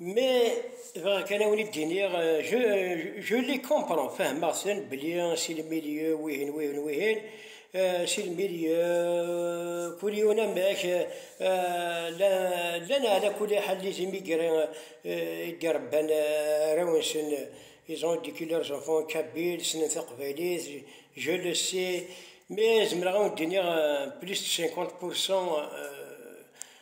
Mais bɣiɣ kan awen id iniɣ je, je les comprends, fehmeɣ sen bli si le milieu wihin wihin wihin, si le milieu kul yiwen amek, llan ala kuli ḥal les immigrés i d-irebban arraw-nsen, ils ont éduqué leurs enfants en kabyle, ssnen taqbaylit, je le sais, mais zemreɣ awen d-iniɣ plus de 50 pour cent,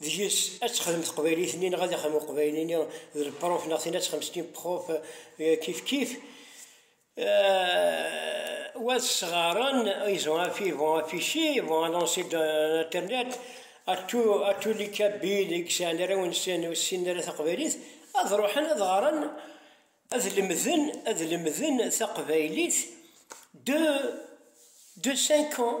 deg-s ad texdem teqbaylit-nni neɣ ad ixdem uqbayli-nni d lepruf neɣ tin ad texdem s timpruf kif kif wat sɣaren ils ont affi vont afficher vont annoncer d'internet à tout à tous les kabyles i yesɛan arraw-nsen ur ssinen ara taqbaylit ad ruḥen ad ɣren ad lemden ad lemden taqbaylit de de cinq ans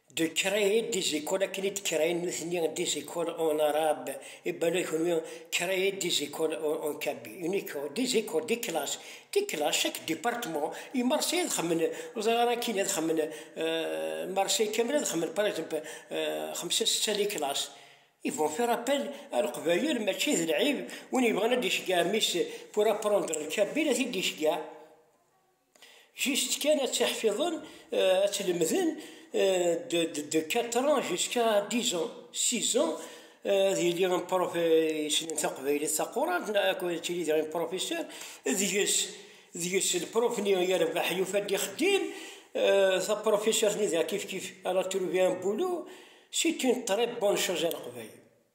De créer des écoles akken i d-krayen nutni des écoles en arabe i bala kunwi créer des écoles en kabi une école des écoles des classes des classes chaque département i Marseille ad xemmen ur ẓriɣ ara akkin ad xemmen Marseille kamel ad xemmen par exemple xemsa setta les classes ils vont faire appel à leqbayel mačči d lɛib win yebɣan ad d-iceggeɛ mmi-s pour apprendre le kabi ad t-id-iceggeɛ. Juste kan ad tt-iḥfiḍen, ad tt-lemden de quatre ans jusqu'à dix ans, six ans, ad yili un prof yessnen taqbaylit taqurant, neɣ ad tili diɣ un professeur, deg-s, deg-s le prof-nni yerbeḥ yufa-d ixeddim, ta professeur-nni diɣ kif kif elle a trouvé un boulot, c'est une très bonne chose à Leqbayel.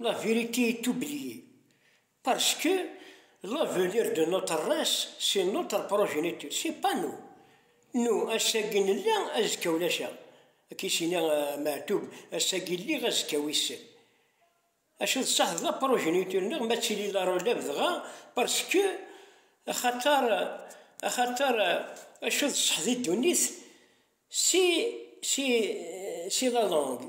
La vérité est oubliée parce que l'avenir de notre race c'est notre progéniture, c'est pas nous. Nous, ass-agi nella, azekka ulac-aɣ. Akka i s-yenna Meɛtub, ass-agi lliɣ, azekka wissen. Acu d ṣaḥ d la progéniture-nneɣ ma tili la relève dɣa parce que axaṭer axaṭer acu d ṣṣeḥ di ddunit c'est c'est c'est la langue.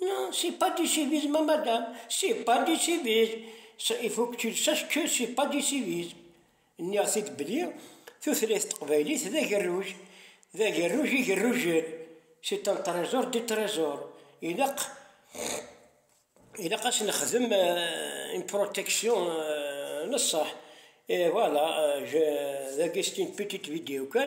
Nan, se pa disiviz ma madam, se pa disiviz, sa il faut que tu le saches que c'est pas disiviz, nniɣ-t-id belli tutlayt n teqbaylit d agerruj, d agerruj igerrujen, c'est un trésor des trésors, ilaq ilaq a s-nexdem une protection n ṣṣeḥ, et voilà, je, dagi c'est une petite vidéo kan.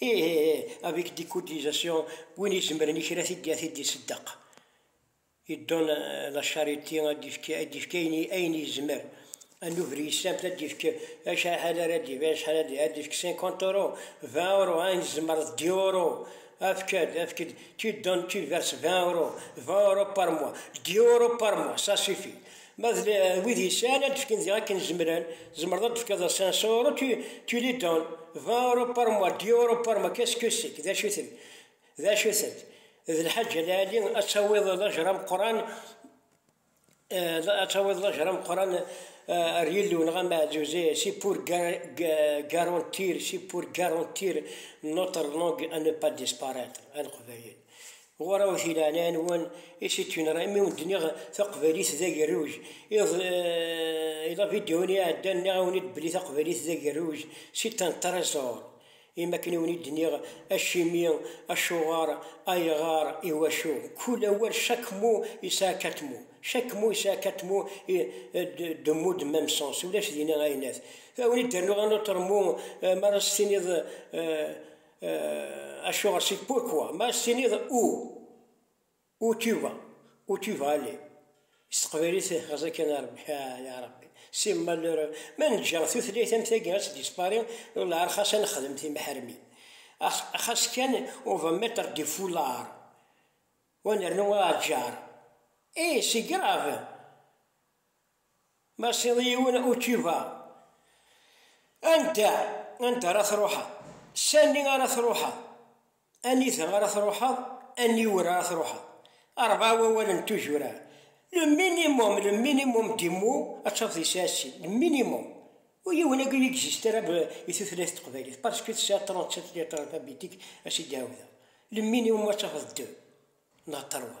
Ih ih ih, avec décodisation, win izemren i kra tid ad t-id-iseddeq. Il donne la charité, ad d-ifk ad d-ifk ayen ayen yezmer. Ad nuder yissamt ad d-ifk acḥal ara d-ifk acḥal ad d-ifk ad d-ifk 50 euro, 20 euro, ayen tzemreḍ 10 euro, efk-d efk-d, tu donnes tu verses 20 euro, 20 euro par mois, 10 euro par mois ça suffit. Ma d wid yesɛan ad d-fken ziɣ akken zemren, zemreḍ ad d-tefkeḍ a 500 euro, tu, tu les donnes 20 euro par mois, 10 euro par mois, qu'est-ce que c'est, d acu-ten, d acu-ten, d lḥaǧa lɛali ad tawiḍ lajr ameqqran, ad tawiḍ lajr ameqqran ar Yillu neɣ am Ɛeǧǧuza, c'est pour garantir, c'est pour garantir notre langue à ne pas disparaître, a Leqbayel. Ɣur awet i leɛnaya-nwen i situinera imi wen d-nniɣ taqbaylit d agerruj. Iḍ i lavidyu-nni iɛeddan nniɣ-awen-id belli taqbaylit d agerruj, c'est un trésor. Imi akken i wen-id-nniɣ acimi, acuɣer, ayɣer, iwacu. Kul awal, chaque mot yesɛa quatre mots. Chaque mot yesɛa quatre mots et deux mots de même sens. Ulac dinna ayennat. Ad wen-id-rnuɣ un autre mot, m'ara s-tiniḍ. Acuɣer si pourquoi ma as-tiniḍ ou où tu vas où tu vas aller s teqbaylit xeẓi kan a Rebbi ah ya Rebbi si malheur ma neǧǧa tutlayt am tagi ad tdispari llar xas ad nexdem timeḥrmi xas kan on va mettre des foulards wa nernu aɛǧar eh c'est grave Ma tesɛiḍ yiwen uciva, anda, anda ara truḥeḍ? Sani ara truḥeḍ? Anida ara truḥeḍ? Aniwer ara truḥeḍ? Rebɛa wawalen n tuzura. Le minimum, le minimum des mots ad tafeḍ yesɛa sin, le minimum. Ur yiwen agi ur existe ara i tutlayt teqbaylit parce que tesɛa 37 lettres alphabétiques a s-id-ɛawdeɣ. Le minimum ad tafeḍ deux neɣ trois.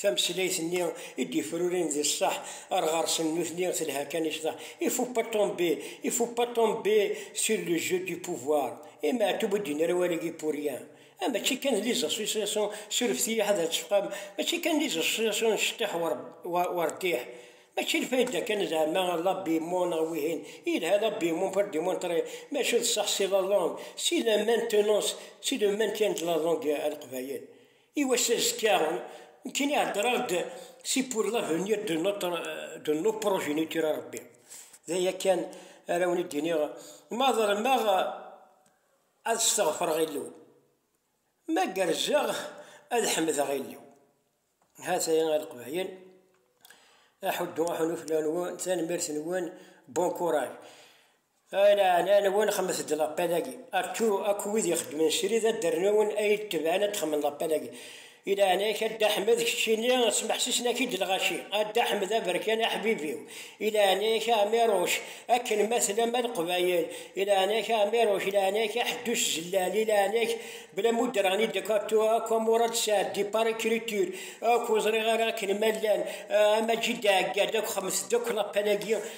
Tameslayt-nni i d-yefrurin di ṣṣeḥ ar ɣer-sen nutni telha kan i cḍeḥ. Il faut pas tomber, il faut pas tomber sur le jeu du pouvoir. I Meɛtub ur d-yenni ara awal-agi pour rien. Ah mačči kan d les associations, surefet-iyi ḥader tecfam, mačči kan d les associations n ceṭṭiḥ u rtiḥ. Mačči lfayda kan zeɛma l'habillement neɣ wihin, yelha l'habillement pour demontrer, maca d ṣṣeḥ c'est la langue, c'est la maintenance, c'est le maintien de la langue a Leqbayel. I wass azekka nekkini heddreɣ-d si pour l'avenir de notre de nos progéniture a Rebbi. D aya kan ara wen id-iniɣ ma ḍelmeɣ ad steɣfreɣ Illu, ma gerrzeɣ ad ḥemdeɣ Illu. Hataya a Leqbayel, aḥuddu aḥunu fell-awen, tanemmirt-nwen, bon courage. Ala ɛlal-nwen xemmet-d lappel-agi, attu akk wid ixeddmen srid ad d-rnun ay d-tebɛen ad d-xemmen lappel-agi. I leɛnaya-k a Dda Ḥmed, keččini smeḥsisen-ak-id lɣaci, a Dda Ḥmed aberkan aḥbib-iw, i leɛnaya-k a Ɛmiruc, akken ma tlam a Leqbayel, i leɛnaya-k a Ɛmiruc, i leɛnaya-k a Ḥeddus Zellal, i leɛnaya-k bla ma ur d-rɣen i Decato akk a Murad Saɛd di par écriture akk ur ẓriɣ ara akken ma llan, a Maǧid Ɛeggad akk xemmet-d akk lappel-agi.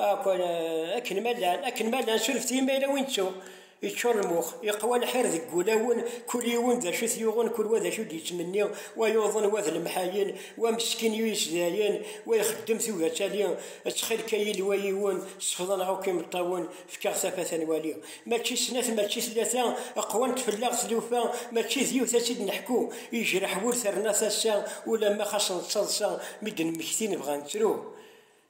Akk-n akken ma llan, akken ma llan suref-t i ma yella win ttu yeččur lmux, yeqwa lḥir deg wulawen, kul yiwen d acu t-yuɣen, kul wa d acu d-yettmenni, wa yuḍen, wa d lemḥayen, wa meskin yu yes dayen, wa ixeddem tugi ad tali, ttxil-k a Yillu a yiwen, sefḍ-aneɣ akk imeṭṭawen, fek-aɣ tafat ad nwali. Mačči snat, mačči tlata, qwant fell-aɣ tlufa, mačči d yiwet ad tt-id-neḥku, yejreḥ wul terna tasa, ulamma xas nettaḍsa, mi d-nemmekti nebɣa ad nettru.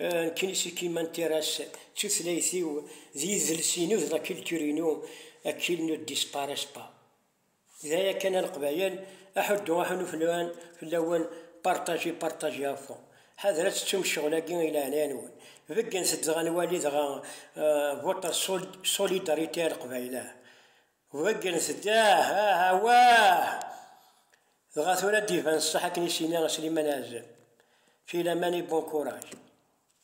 Nkinisi qui m'intéresse d tutlayt-iw, d yidles-inu, d la culture-inu, qui ne disparaissent pas. D aya kan a Leqbayel, aḥuddu aḥunnu fell-awen, fell-awen, partagez, partagez à fond. Ḥader ad tettum ccɣel-agi i leɛnaya-nwen. Beggenet-d dɣa nwali dɣa votre solidarité a Leqbayel ah. Ḍeggren-t-id, ah, ah, awah! Dɣa tura ad d-iban ṣṣeḥ akken i s-yenna Sliman Ɛezzam, filaman i bon courage.